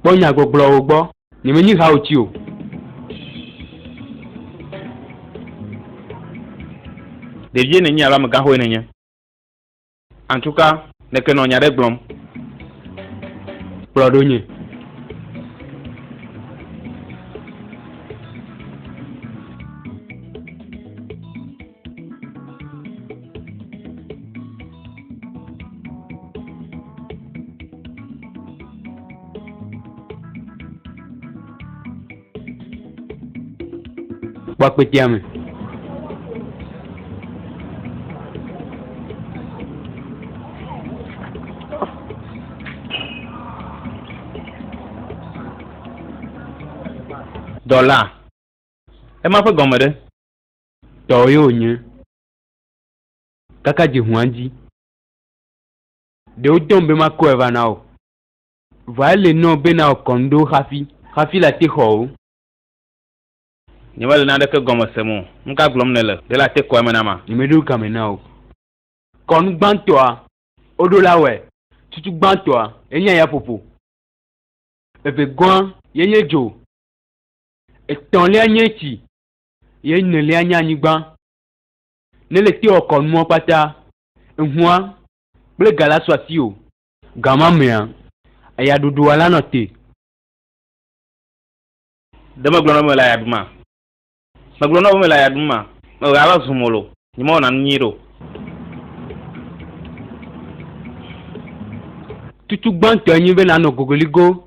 Kpɔ nyagbɔgblɔwo gbɔ. Nyemenyi hawuti o. Ɖevie nènye alo amegãxoe nènye. Antuka, nèke nɔ nya ɖe gblɔm. Kplɔ ɖo nye. kpɔkpɛtia me dɔla ema ƒe gɔme ɖe Tɔwò ye wònye. Kaka dzi ʋua dzi. Ɖe wotɔm be makɔe va na wò. Vɔa ele nɔo be nawɔ kɔndo xafi, xafi late xɔ wò. Nyemele naneke gɔme sem o. Nuka gblɔm nèle? Ɖe late kɔ eme na ma? Nyemeɖo game na wò. Kɔnu gbãtɔa, woɖo la wɔe. Tsutsu gbãtɔa, enye ayaƒoƒo. Evegɔ̃a, ye nye dzo. Etɔ̃lia nye tsi. Ye nelia nye anyigba. Nele te wɔ kɔ nua kpata. Ehua kple ga la su asi o. Ga ma mea, eya ɖuɖua la nɔ te. Ɖe megblɔ na wo be mele aya ɖum a? Megblɔ na wo be mele aya ɖum a? Mewɔ ya va zu molo. Nyemewɔna nu nyuiɖe o. Tutu gbãtɔe nye be nànɔ gogoligo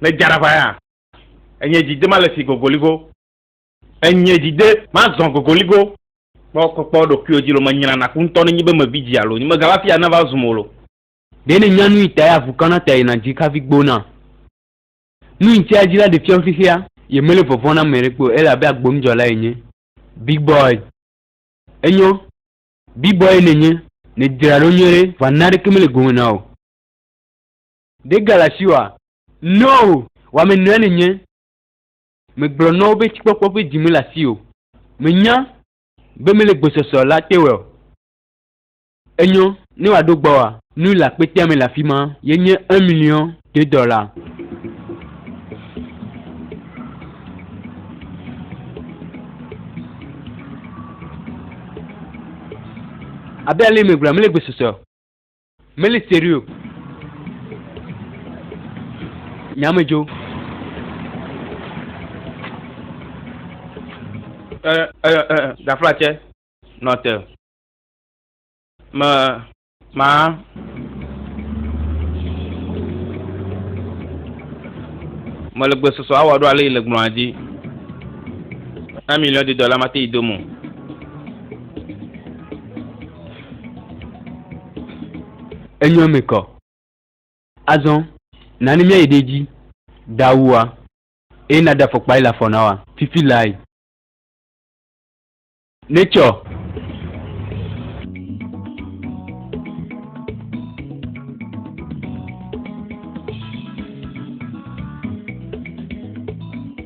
Ne dza ɖaʋa ya, enye dzi de male si gogoligo. Enye dzi de mazɔ gogoligo. Kpɔ kpɔkpɔ ɖokuiwò dzi lo menyra naku ŋutɔ ne nyi be mevi dzi alo nyi megava fia ne va zum o lo. Ɖe ne nya nui tae avu kana ta yina dzi hafi gbona? Nui tsia dzi la ɖe fiam xexea. Ye mele vɔvɔ̃ na ame ɖekpe o ele abe agbonudzɔla enye. Big boy. Enyo. Big boy ye nenye. Nedzra ɖo nyuie ɖe, va naneke mele gome na wò. Ɖe gale asi oa? No! Wamenɔe nènye. Megblɔ na wo be tsikpɔkpɔ ƒe dzi mele asiwò. Menya be mele gbɔsɔsɔ la te o. Enyɔ, ne wòaɖo gbɔwòa, nu le akpetea me le afima. Ye nye un million de dollars. Abe ale megblɔa, mele gbɔsɔsɔ Meli serio. Nyame jo. Ɛ ɛ ɛ gafla cɛ nɔ te. Me ma mele gbe sɔsɔ awɔ ɖo ale yi le gblɔa dzi. Un million de dollars mate yi do mo. Enyo eme kɔ. Azɔ, nani míayi ɖe edzi ɖaa wua, eye nàɖe afɔkpa yi le afɔ na wòa, fifi lae. Netsɔ.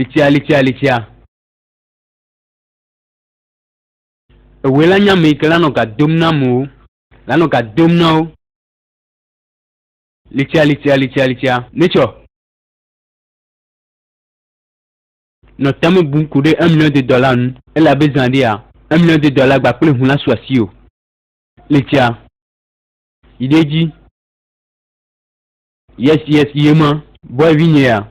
Litsia litsia litsia. Ewoe la nye ame yi ke la nɔ ga dom na amewo. La nɔ ga dom na wo. Litsia litsia litsia litsia. Netsɔ. Nɔ tame bum ku ɖe emlɔdedɔ la ŋu. Ele abe zã ɖea, emlɔdedɔ la gba kple ŋu la su asi o. Litsia. Yi ɖe edzi. Yes yes yema. Boy vi nye ya.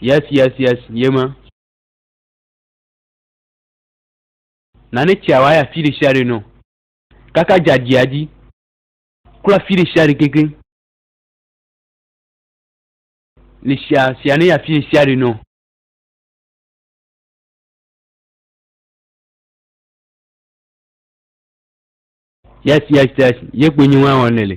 Yes, yes, yes, yema. Nane tsia wa ya fi ɖe sia ɖe nɔ. Kaka dzadia dzi. Kura fi ɖe sia ɖe kekeŋ. Le sia sia ne ya fi ɖe sia ɖe nɔ. Yes, yes, yes, ye kpoe nye wa wɔnɛ le.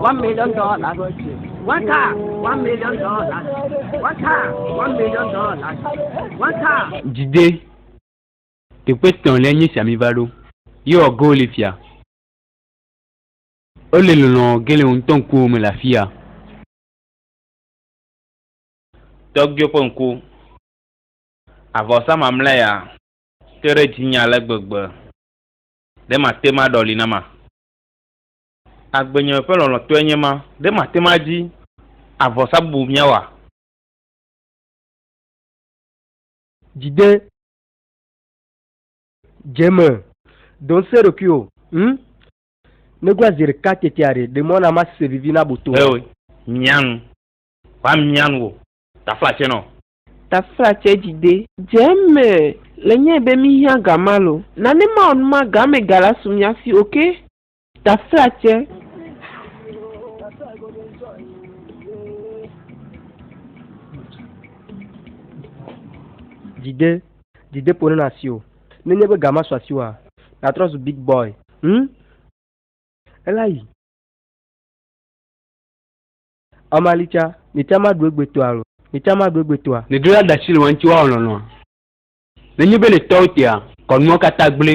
One million dollars. One car, one million dollars. One car, one million dollars. One car. Jide, teƒe tɔn le nye siami va ɖo. Ye wɔ go le fia. O le lɔlɔ ge le ŋutɔ ŋkuwo me le afia. Tɔgbuiwo ƒe ŋku. Avɔ sa mamlɛ ya. Te ɖe dzinye ale gbegbe. Ɖe mate maɖɔli nama. Agbenye ƒe lɔlɔ̃tɔe nye ma, ɖe màte ŋu adi avɔsa bubu míawa? Dzi de dze me. Dɔ ŋusẽ ɖokuiwò ŋu. Negla zi ɖeka teteaɖe, ɖe mɔ na mase vivi na boto. Eo, mia nu. Ʋã mia nu wò taflatsɛ nɔ. Taflatsɛ dzi de. Dze me le nyee be míhiã gamalo. Nane mawɔ nu ma gamɛ galasu mia si oke. Taflatse. Dide, dide ƒo ne na asi o. Ne nye be ga ma su asi wa, na trɔ zu big boy. Hm? Ela yi. Amalitsa, ne tsa ma ɖu egbe toa lo. Ne tsa ma ɖu egbe toa. Ne dro la ɖe asi le wa ŋuti wa wɔ lɔlɔa. Ne nye be ne tɔwo tea, kɔ nuawo kata gble.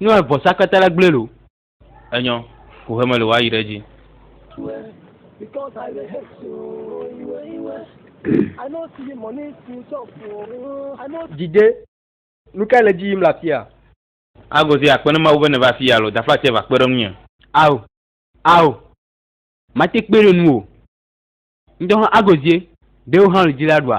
Noe vɔsa kpeta la gblɔe lo. Enyɔ, ko he mele woayi ɖe edzi. Djidje, nukae le edzi yim le afia? Agozie, akpe ne Mawu be nèva afii alo daflatie va kpe ɖe ŋunye. Ao, ao, mate kpee ɖe nuwò o. Ŋdɔ hã Agozie, ɖe wò hã wòle dzi la ɖua?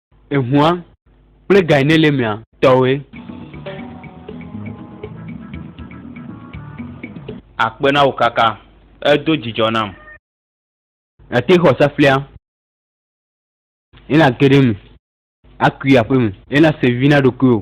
Ehua kple Gainelemea tɔwoe. Akpe na wò kaka, èdo dzidzɔ nam. Nàte xɔ saflia, ye nàge ɖe eme akui aƒeme, ye nàse vi na ɖokuiwò.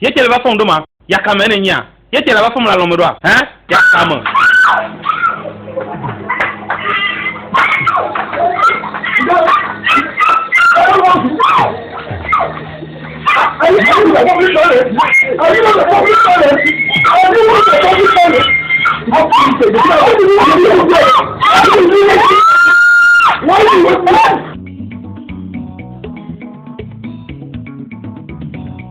Ye tsɛ le va fɔm ɖo ma? Yaka me nènyia? Ye tsɛ le va fɔm le alɔme ɖoa? Hɛn, yaka me. Why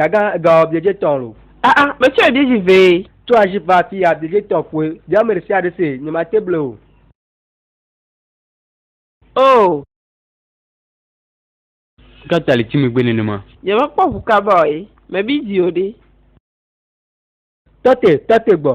Dagan ega ɔ biedje tɔn lo. Ah ah, me tsɔ ebiedzi vee. To aji va afi ya biedje tɔn ƒoe, bia ame ɖe sia ɖe se, nye ma te ble o. Oh. Kata le time gbe nenema. Nye me kpɔ ʋu kaba o ye, me bi dzi o ɖe. Tɔte, tɔte gbɔ.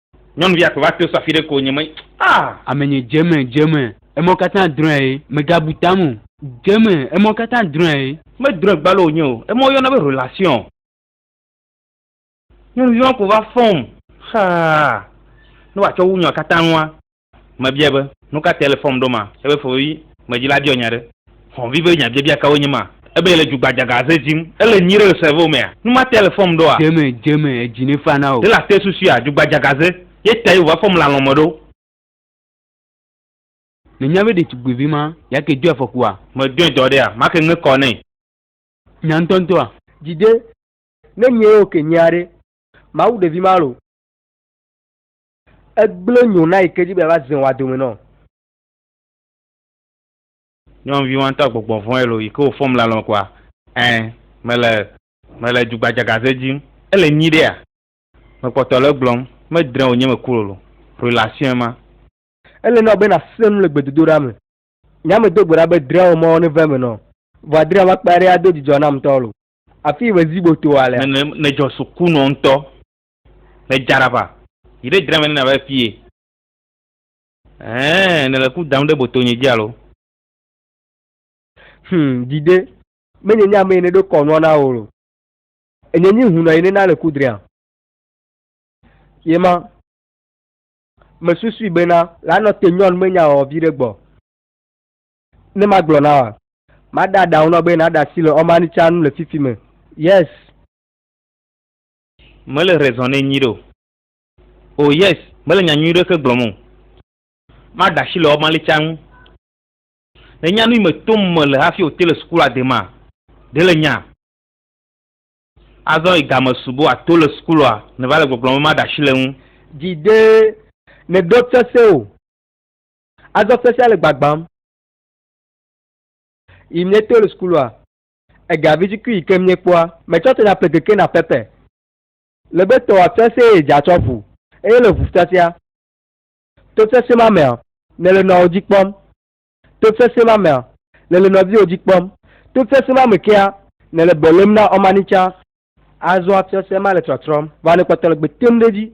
Nyɔnuvia kplɔ va to safi ɖe ko nye me ah. Ame nye dze me dze me emɔ katã drɔe ye mega bu tam o. Dze me emɔ katã drɔe ye. Me drɔe gbalo wonye o emɔ yɔna be relation. Nyɔnuvi ma ko va fɔm xaa ne wa tsɔ wu nyɔ katã nua. Mebiae be, Nu ka tae ele fɔm ɖo ma? Ebe fofovi medzi la biɔ nya ɖe. Xɔvi be nyabiabia kawoe nye ma? Ebe yele dzugbadzagaze dzim. Ele nyui ɖe le cerveau mea? Nu ma tae ele fɔm ɖoa? Dzeme, dzeme, edzi ne fa na wò. Ɖe late susuia dzugbadzagaze ye tae wòva fɔm le alɔ̃ me ɖo? Nènya be ɖetugbuivi ma ya ke doe afɔkua? Medoe dɔ ɖea? Ma ke ŋe kɔ nɛ. Nya ŋutɔŋutɔa? Dzi de, ne nyee ok nyea ɖe, mawu ɖevi ma lo. Egblẽ nyo na yi ke dzi be yeava ze wòa dome nɔ. Nyɔnuvi wa ŋutɔ gbɔgbɔ vɔ̃e lo yi ke wò fɔm le alɔme kɔa? Ẽ, mele. Mele dzugbadzagaze dzim. Ele nyuiɖea? Mekpɔtɔ le egblɔm. Medrẽ wò nye me ku lolo. Relation ye ma. Ele na wò be nàsẽ nu le gbedodoɖa me. Nya me do gbe ɖa be drẽ wò mɔ neva eme nɔ. Vɔ adrẽ makpa ɖe ado dzidzɔ nam ŋutɔ lo. Afii me zi botoa lea? Nèdzɔ suku nɔ ŋutɔ. Le Jarava. Yi ɖe dra me ne nàva fie. Ɛɛ, nèle ku dam ɖe botonye dzi alo? Hum, dzi ɖe. Menye nye ame yi neɖo kɔ nua na wò lo. Enye nyi hunɔ yi nena le ku dria. Ye ma. Mesusui bena. La nɔ te nyɔn menya ɔ viɖe gbɔ. Ne magblɔ na wa. Mada ɖaŋu nɔ be naɖe asi le ɔmani tsa nu le fifi me. Yes. Mele raison ne nyui ɖe o. Oh yes, mele nya nyui ɖe ke gblɔm o. Maɖe asi le ɔmalitia ŋu. Ne nya nui me tom me le hafi ote le sukula de ma, de le nya. Azɔ yi game subo ato le sukulua ne va le gbɔgblɔm be maɖe asi le ŋu. Dzi de ne ɖo tsese o. Azɔ sesia le gbagbam. Yi ne to le sukulua. Ega vidzikui yi ke míekpɔa me tsɔ tena pekeke na pɛpɛ. Le be tɔwò afia se eye dza tsɔ ƒu, eye le ʋufiafia. To sesẽ ma mea, nèle nɔawo dzi kpɔm. To sesẽ ma mea, nèle nɔviwò dzi kpɔm. To sesẽ ma me kea, nèle be lém na Ɔmanitsã. Azɔa fiase ma le trɔtrɔm va ne kpɔtɔ le gbe tem ɖe edzi.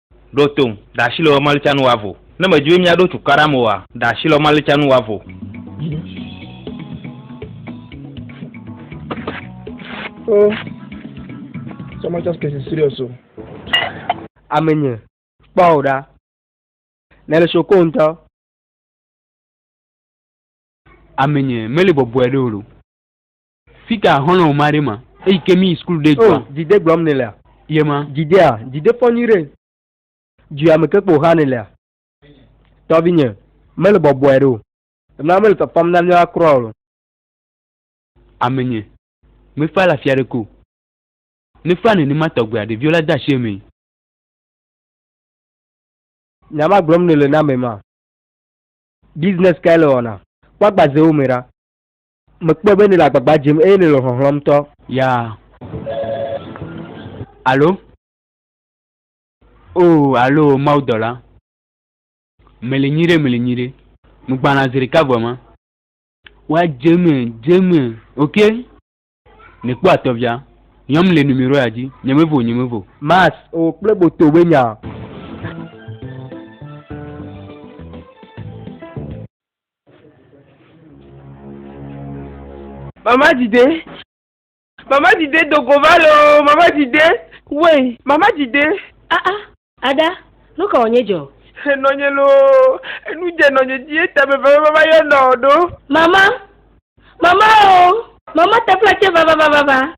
Ɖo tom, ɖe asi le wò malitsianu wɔ avo? Ne mèdi be míaɖo cukaɖam oa, ɖe asi le wò malitsianu wɔ avo? O, someone just getting serious o. Amenye, kpɔ wò ɖa. Nèle soko ŋutɔ. Amenye, meli bɔbɔe ɖe o loo. Fika xɔlɔ woma ɖe ma. Eyi ke mi yi school ɖe dua. Oh, djide gblɔm ne lea. Ye ma. Djidea, djide fɔ nyui ɖe. Djua me ke kpo xa ne lea. Tɔvinye, mele bɔbɔɛ ɖe o. Ema mele fafam na mia kura o. Amenye, me fa la fia ɖe ke o. Ne fa ne ne ma tɔgbea, ɖevio la da shi eme. Nya ma gblɔm ne le na me ma. Business kae le wɔna? Kpɔ agbazewo me ɖa. Mekpɔe be nèle agbagba dzem eye nèle xɔxlɔ̃m ŋutɔ. Ya. Alo. Oo, alo o Mawudɔla, mele nyuiɖe, mele nyuiɖe. Nu gbãna zi ɖeka vɔe ma. Wa dze eme, dze eme, ok? Nèkpɔ atɔvia. Nyɔm le numeroya dzi. Nyemevo, nyemevo. Max, O, kple boto be nya. Mama dide, mama dide dogo va le o, mama dide, wei, mama dide. Ah ah, Ada, nu ka wònye dzɔ? Enɔnye loo, enu dze nɔnye dzi eta meveve mama yɔna o ɖo. Mama, mama o, mama tefla tse vavavavava.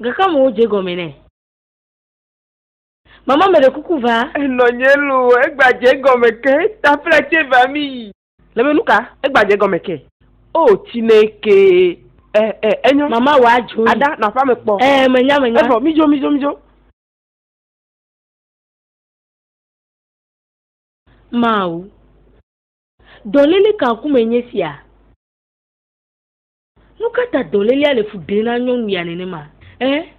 Gakam wodze gɔme nɛ. Mama me ɖe kuku va. Enɔ nye lo, egba dze gɔme ke, ta fla tse va mi yi. Le be nuka? Egba dze gɔme ke. O, tsi ne ke. E, e, enyo. Mama wa dzo yi. Ada, nɔ aƒea me kpɔ. E, me nya, me nya. Evɔ, mi dzo, mi dzo, mi dzo. Mawu. Dɔlele ka ŋku me nye sia? Nuka ta dɔlelea le fu ɖem na nyɔnu ya nenema? E.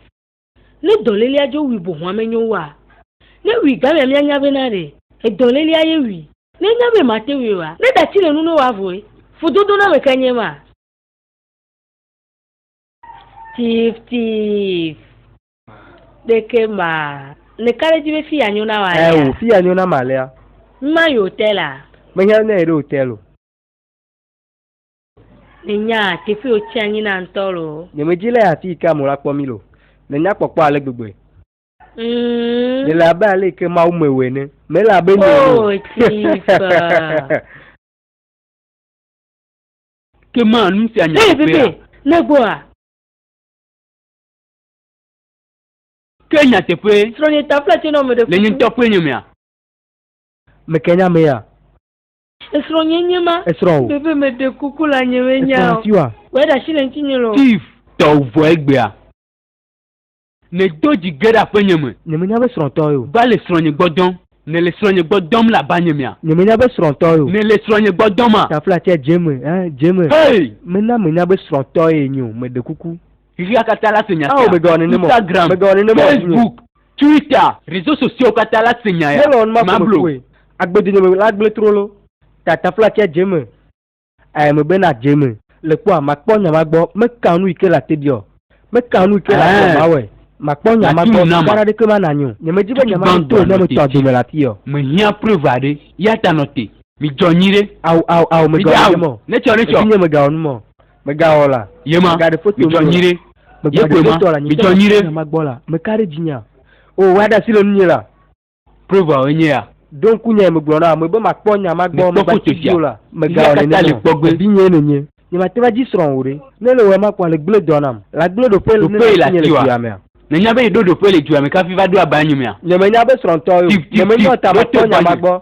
Ne dɔlélea dzo wui bohɔa menyo oa? Ne wui gamea mianya be na ɖe edɔlélea ye wui? Ne enya be mate wui oa? Ne ɖati le nu ne woa vɔe? Fudodoname kae nye ma? Tif tif ɖeke ma ne ka ɖe dzi be fiya nyo na wa lea? Eo fiya nyo na ma lea? Ŋma yi hotel a. Mehiã ne eɖo hotel o. Me nya teƒe o tsi anyi na ŋtɔ lo. Nye me dzi le afi yi ke ame la kpɔ mi lo. Me nya kpɔkpɔ ale gbegbee. Mm. Me le abe ale yi ke Mawu me wɔ ene. Me le abe nye ene. Oh, Jesus. Ke ma nu sia nya Hey, teƒea. Pepe, ne gbɔ a. Ke nya teƒe. Srɔ̃nye taflatse nɔ me ɖe Le nye kutu. ŋutɔ ƒe nye mea. Me ke nya mea. Esrɔ̃ nye nye ma. Esrɔ̃ o. Bebe me ɖe kuku la nye me nya o. Esrɔ̃ tiwa. Wɔ ɖe asi le ŋuti nye lo. Tiv tɔ vɔ egbea. Ne do dzi ge ɖe aƒe nye me. Nye me nya be srɔ̃ tɔ ye o. Va le srɔ̃ nye gbɔ dɔm. Ne le srɔ̃ nye gbɔ dɔm la ba nye mea. Nye me nya be srɔ̃ tɔ ye o. Ne le srɔ̃ nye gbɔ dɔm a. Tafla tse dze me eh dze me. Hey. Me na me nya be srɔ̃ tɔ ye nyo me ɖe kuku. Ɣea kata la se nya sia. Ao me gawɔ nenem o. Instagram. Me gawɔ nenem o. Facebook. Twitter, réseau sociaux katã la se nya ya. Melon ma kome fue, agbedonye me la gblẽ trolo, tatafla tsia dze eme, eye megbe na dze eme. Le kpɔa, makpɔ nya ma gbɔ, meka nu yi ke le ate ɖi ɔ, meka nu yi ke le ate ɔ, mawɔe, makpɔ nya ma gbɔ, nuka ɖaɖeke ma nanyo, nyemedi be nya ma nato ne meto agbe me le afii ɔ. Mehiã preuve aɖe, yata nɔ te, midzɔ nyuiɖe. Ao, ao, ao, megawɔ nu mɔ, evinye, megawɔ nu mɔ. Megawɔ la. Yema. Megaɖe foto. Mitsɔ nyi ɖe. Megbaɖe foto la. Mitsɔ nyi ɖe. Mama gbɔ la. Meka ɖe dzinya. O, wa ɖe asi le nunye la. Preuve enye ya. Ɖo ŋku nyae megblɔ na ame be makpɔ nya ma gbɔ. Mekpɔ foto sia. Megawɔ nenema o. Vinye nènye. Nyemate va dzi srɔ̃ o ɖe. Ne ele wɔe ma kpɔ ale gblẽ dɔ nam. La gblẽ ɖoƒe ne nati nye le dua mea. Nènya be yeɖo ɖoƒe le dua me kafi va ɖo aba nye mea? Nyemenya be srɔ̃tɔ ye o. Tif, tif, tif. Ɖo to gbɔnye. Nyemenyɔ ta makpɔ nya ma gbɔ.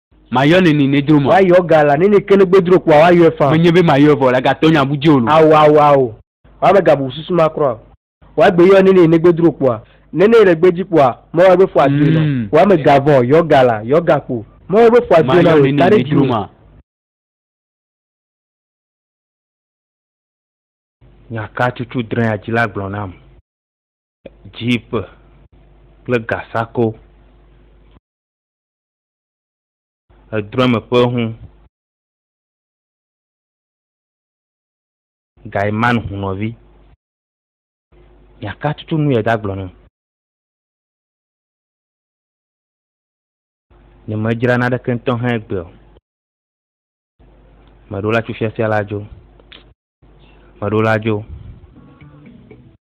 Mayɔ nɛ ni nedro mɔ. Woayɔ ga la nɛ ni ke negbe dro kpoa woayɔɛ faa. Menye be mayɔɛ vɔ la gatɔ nya bu djeo lo. Ao ao ao wa me ga bu susu ma krɔ ao. Wa gbe yɔ nɛ ni negbe dro kpoa. Nene yi ɖegbe dji kpoa mɔ wa gbe fua dzoe na o. Wa me ga vɔ yɔ ga la yɔ ga kpo mɔ wa gbe fua dzoe na o yi ta ɖe dji o. Nya ka cucu drɛa dji la gblɔ nam. Djipe kple gasako. Edrɔ̃me ƒe hu. Gaiman hu nɔvi. Miaka tutu nu ye da gblɔ nu. Nye me dzra na ɖeke ŋutɔ hã egbe o. Meɖo la tso fiafia la dzo. Meɖo la dzo.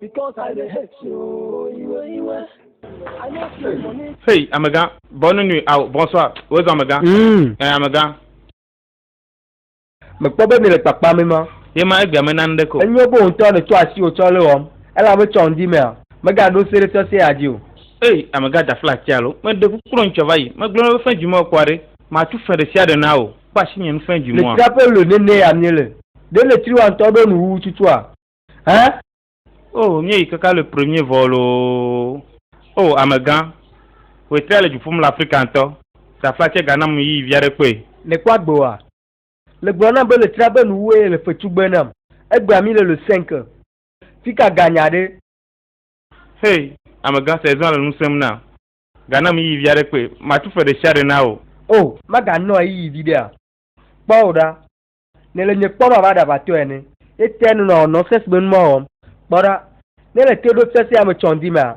Because I dey hate you, iwe iwe. I no see money. Hey, amega, bonne nuit, au, bonsoir, où est amega? Mm. Eh, amega. Mekpɔ be mi le kpakpa mi ma. Ye ma egbea me nan ɖeko. Enyo bo ŋutɔ ne to asi o tsɔ le wɔm. Ela me tsɔ ŋdi mea. Mega ɖo se ɖe tsɔ se adi o. Hey, amega da fla tia lo. Me de kukro ŋtsɔ va yi. Me glo ne be fɛn djumɔ kua ɖe. Ma tu fɛn ɖe sia ɖe na o. Kpa asi nye nu fɛn djumɔa. Le tira pe lo ne ne ya mi le. Ɖe le triwa ŋtɔ ɖo nu wuwu tutua. Hein? Oh, míeyi kaka le premier vol o. Oh, amegã, wòe trɛ le dzu ƒum le Afrika ŋutɔ. Safla tsɛ gana mum yiyi vi aɖe kpɔe. Nèkpɔ agbewoa? Le gblɔ nam be le tra be nuwuwo eye le fe tugbe nam. Egbea mí le le Senke. Fika ga nya ɖe? Hey, amegã, saison le nu sẽm nam. Gana mum yiyi vi aɖe kpɔe. Matu fe ɖesiaɖe na wò. Oh, maganɔa yiyi viɖea? Kpɔ wò ɖa. ne le nye kpɔm abe aɖaʋatɔ ene. Ne te nɔnɔ wɔ nɔsɛs si me nu ma wɔm, kpɔ ɖa, ne le te ɖom sesẽ ame tsɔndi mea,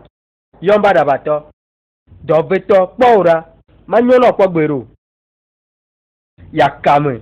yɔm be aɖaʋatɔ. Dɔ vɛ tɔ, kpɔ wò ɖa, manyɔ na wò kpɔ gbeɖe o. Ya ka me.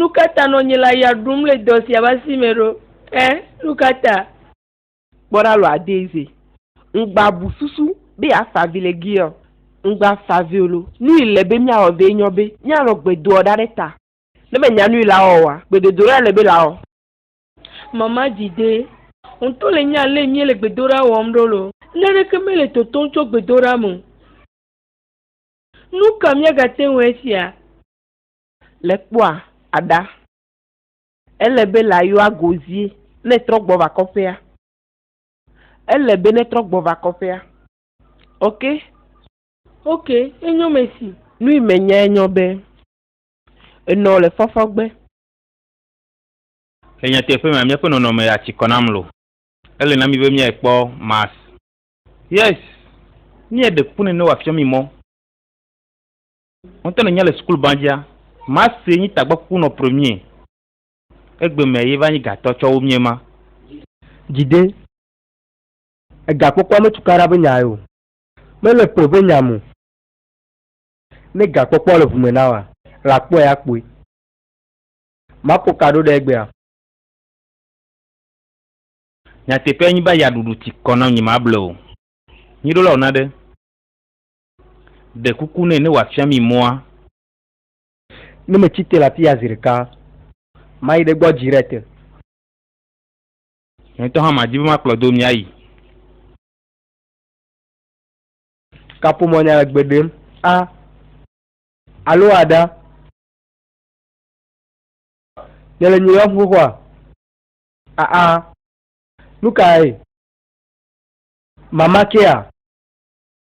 Nu ka ta nɔ nye la ya ɖum le dɔ sia ƒe asi me ɖo? Ẽ, nu ka ta? Kpɔ ɖa lɔa Daisy. Ŋgba bu susu be yeafa avi le Gilead o. Ŋgba fa avi o lo. Nu yi le be míawɔ vɛ nyɔ be míanɔ gbe doa ɖa ɖe ta. Ne mènya nu yi la wɔwɔ oa, gbedodoɖa le be lawɔ. Mama dzi dee. Ŋutɔ le nya ale míele gbedoɖa wɔm ɖo lo. Naneke mele totom tso gbedoɖa me o. Nu ka míagate ŋu esia? le kpɔa aɖa. Ele be la yɔa go zie ne trɔ gbɔ va kɔƒea. Ele be ne trɔ gbɔ va kɔƒea. Ok. Ok, enyɔ mesi. Nui me nya enyɔ be. Enɔ le fɔfɔ gbe. Le nyateƒe mea, míaƒe nɔnɔme ya tsi kɔ na mlo. Ele na mí be míae kpɔ Mars. Yes, míaɖe kuku nɛ ne wòafiɔ mí mɔ. Ŋutɔ ne nya le sukulu banjia, ma se nyi tagbɔ kuku nɔ premier. Egbe mɛ ye va nyi gatɔ tsɔ wo mie ma. Jide. Ega kpɔkpɔa me tukaɖa be nya eo. Me le ƒe be nya mo. Ne ga kpɔkpɔa le ʋume na wa, la kpɔe a kpɔe. Ma kɔ ka ɖo ɖe egbea. Nyateƒea nyi be aya ɖuɖu ti kɔ na ŋnyi ma ble o. Nyi ɖo la ona ɖe. Ɖe kuku nɛ ne wòafia mí mɔa. Ne metsi te le afi ya zi ɖeka. Mayi ɖe egbɔ dzi ɖe te. Nye ŋutɔ hã madi be makplɔ do míayi. Kaƒomɔ̃nya le gbe ɖem a alo a ɖa. Ne le nyeyɔm xoxoa a a. Nukae mama kea?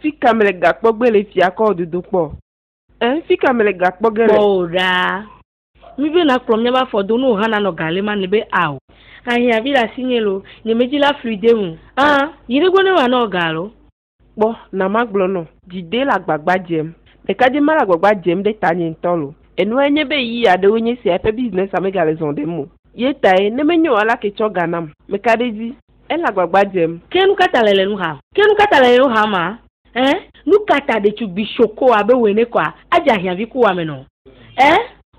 Fi ka me le gakpɔ gbe le fia kɔ dodo kpɔ? Ẽ, fi ka me le gakpɔ ge le? Kpɔ o ɖaa. Mí be na kplɔ míabe afɔ do nuwo hana nɔ gale ma ni be ao. Ahiã vi le asi nye lo, nye me dzi la flui de ŋu. Ã, yi ɖe gbɔ ne wa nɔ ga lo. Kpɔ, na ma gblɔ nɔ. Dzi de le agbagba dzem. Ɖeka dzi ma le agbagba dzem ɖe ta nye ŋutɔ lo. Enua nye be yi ya ɖewo nye sia eƒe business a me ga le zɔ ɖem o. Ye tae, ne menye o ala ke tsɔ ga nam. Meka ɖe edzi. Ele agbagba dzem. Ke nu ka ta le le nu xam? Ke nu ka ta le le nu xam a? Ẽ, nu ka ta ɖetugbi shoko abe wòe ne kɔa adze ahiãvi ku wɔamenɔ? Ẽ,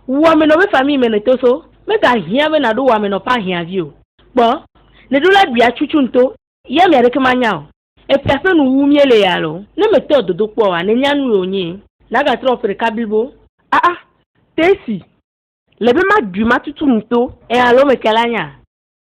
wò wɔamenɔ be famille me nèto so megahiã be nàɖo wɔamenɔ ƒe ahiãvi o. Kpɔ, nèɖo la ɖui atsutsu ŋto. Ye amea ɖeke manya o. Eƒe aƒe nu wum yele ye alo? Ne mètɔ dodokpɔ oa, nènya nue wònye. Nàgatrɔ ƒe ɖeka blibo. Aa, Tessy, le be maɖui matutu ŋto. Ẽ, alo mete la nya.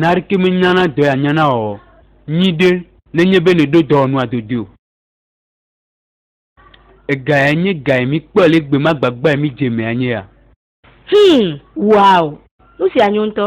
Narke menyana dɔ ya nyana ɔ nyi ɖe nenye be neɖo dɔwɔnua dodo o. Ega ya nye ga yi mi kpɔ le gbe ma gbagba yi mi dze me anye ya. Hum, wow, nu sia nyo ŋutɔ.